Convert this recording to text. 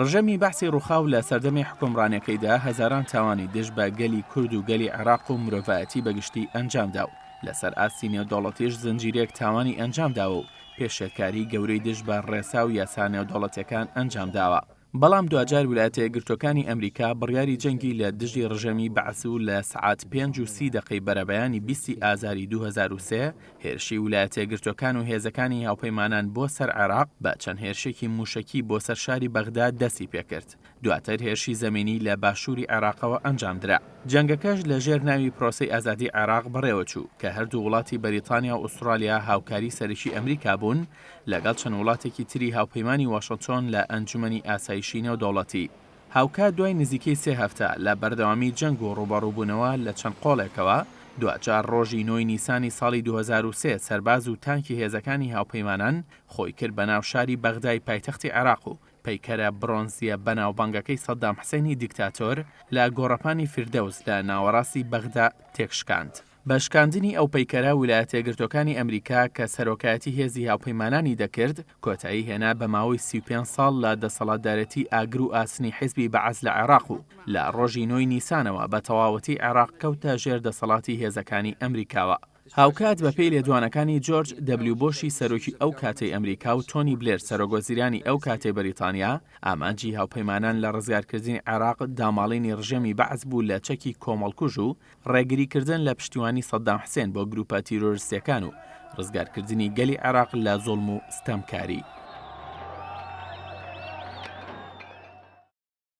ڕژێمی بەعسی ڕووخا و لە سەردەمی حوکمڕانیەکەیدا هەزاران تاوانی دژ بە گەلی کورد و گەلی عێراق و مرۆڤایەتی بە گشتی ئەنجامدا و لەسەر ئاستی نێودەوڵەتیش زنجیرەیەک تاوانی ئەنجامداوە و پێشێلکاریی گەورەی دژ بە ڕێسا و یاسا نێودەوڵەتیەکان ئەنجامداوە. بەڵام دواجار ولایەتە یەکگرتووەکانی ئەمریکا بڕیاری جەنگی لە دژی ڕژێمی بەعس و لە سەعات پێنج و سی دەقەی بەرەبەیانی بیستی ئازاری دوو هەزار و سێ هێرشی ولایەتەیەکگرتووەکان و هێزەکانی هاوپەیمانان بۆ سەر عێراق بە چەند هێرشێکی مووشەکی بۆ سەر شاری بەغدا دەستی پێکرد، دواتر هێرشی زەمینی لە باشووری عێراقەوە ئەنجامدرا. جەنگەکەش لە ژێر ناوی پرۆسەی ئازادی عێراق بەڕێوەچوو، کە هەردوو وڵاتی بەریتانیا و ئوسترالیا هاوکاری سەرەکی ئەمریکا بوون، لەگەڵ چەند وڵاتێکی تری هاوپەیمانی واشنتۆن لە ئەنجومەنی ئاسایشی نێودەوڵەتی. هاوکات دوای نزیکەی سێ هەفتە لە بەردەوامی جەنگ و ڕووبەڕووبوونەوە لە چەند قۆڵێکەوە، دواجار ڕۆژی نۆی نیسانی ساڵی دوو هەزار و سێ سەرباز و تانکی هێزەکانی هاوپەیمانان خۆی کرد بە ناو شاری بەغدای پایتەختی عێراق و پەیکەرە بڕۆنزییە بەناوبانگەکەی سەددام حسێنی دیکتاتۆر لە گۆڕەپانی فیردەوس لە ناوەڕاستی بەغدا تێکشکاند. بە شکاندنی ئەو پەیکەرە ولایەتە یەکگرتووەکانی ئەمریکا کە سەرۆکایەتی هێزی هاوپەیمانانی دەکرد، کۆتایی هێنا بە ماوەی سی و پێنج ساڵ لە دەسەڵاتدارێتی ئاگر و ئاسنی حیزبی بەعس لە عێراق و لە ڕۆژی نۆی نیسانەوە بە تەواوەتی عێراق کەوتە ژێر دەسەڵاتی هێزەکانی ئەمریکاوە. هاوکات بە پێی لێدوانەکانی جۆرج دەبلیو بۆشی سەرۆکی ئەو کاتەی ئەمریکا و تۆنی بلێر سەرۆکوەزیرانی ئەو کاتەی بەریتانیا، ئامانجی هاوپەیمانان لە ڕزگارکردنی عێراق داماڵینی ڕژێمی بەعس بوو لە چەکی کۆمەڵکوژ و ڕێگریکردن لە پشتیوانی سەددام حسێن بۆ گروپە تیرۆرستیەکان و ڕزگارکردنی گەلی عێراق لە زۆڵم و ستەمکاری.